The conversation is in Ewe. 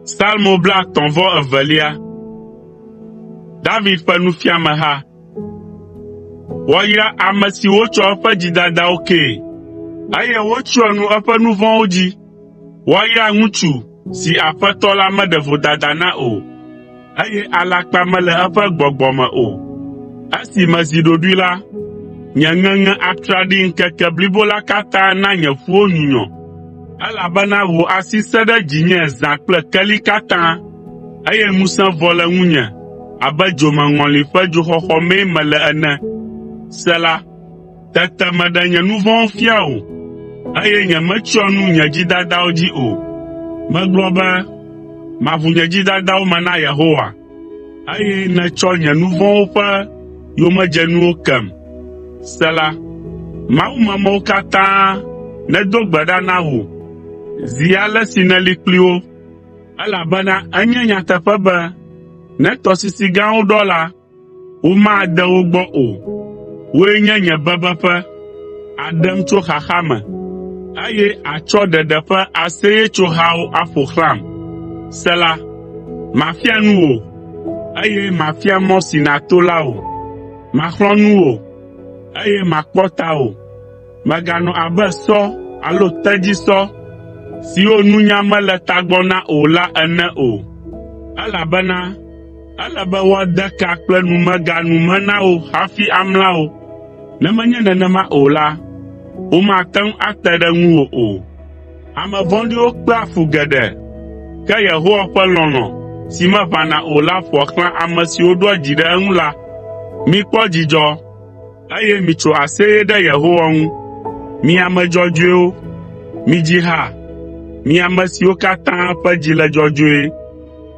Salmo blaetɔ̃ vɔ evelia. David ƒe nufiameha. Woayra ame si wotsɔ eƒe dzidadawo kee, eye wotsyɔ nu eƒe nu vɔ̃wo dzi. Woayra ŋutsu si Aƒetɔ la meɖe vodada na o, eye alakpa mele eƒe gbɔgbɔ me o. Esi mezi ɖoɖoe la, nye ŋeŋe atraɖii ŋkeke blibo la katã na nye ƒuwo nyunyɔ, elabena wò asi sẽ ɖe dzinye zã kple keli katã, eye ŋusẽ vɔ le ŋunye abe dzomeŋɔli ƒe dzoxɔxɔ mee mele ene. Sela Tete meɖe nye nu vɔ̃wo fia wò, eye nyemetsyɔ nu nye dzidadawo dzi o. Megblɔ be, “Maʋu nye dzidadawo me na Yehowa.” Eye nètsɔ nye nu vɔ̃wo ƒe yomedzenuwo kem. Sela Mawumemɔwo katã nedo gbe ɖa na wò zi ale si nèli kpli wo. Elabena enye nyateƒe be ne tɔsisi gãwo ɖɔ la, Womade wo gbɔ o. Wòe nye nye bebeƒe, àɖem tso xaxa me, eye àtsɔ ɖeɖe ƒe aseyetsohawo aƒo xlãm. Sela Mafia nu wò, eye mafia mɔ si nàto la wò. Maxlɔ̃ nu wò, eye makpɔ tawò. Mèganɔ abe sɔ alo tedzisɔ siwo nunya mele tagbɔ na o la ene o, elabena Ele be woade ka kple numega nu me na wò hafi amla wò. Ne menye nenema o la, womate ŋu ate ɖe ŋuwò o. Ame vɔ̃ɖiwo kpea fu geɖe, ke Yehowa ƒe lɔlɔ̃ si meʋãna o la ƒoa xlã ame siwo ɖoa dzi ɖe eŋu la. Mikpɔ dzidzɔ, eye mitso aseye ɖe Yehowa ŋu, mi ame dzɔdzɔewo. Midzi ha, mi ame siwo katã ƒe dzi le dzɔdzɔe.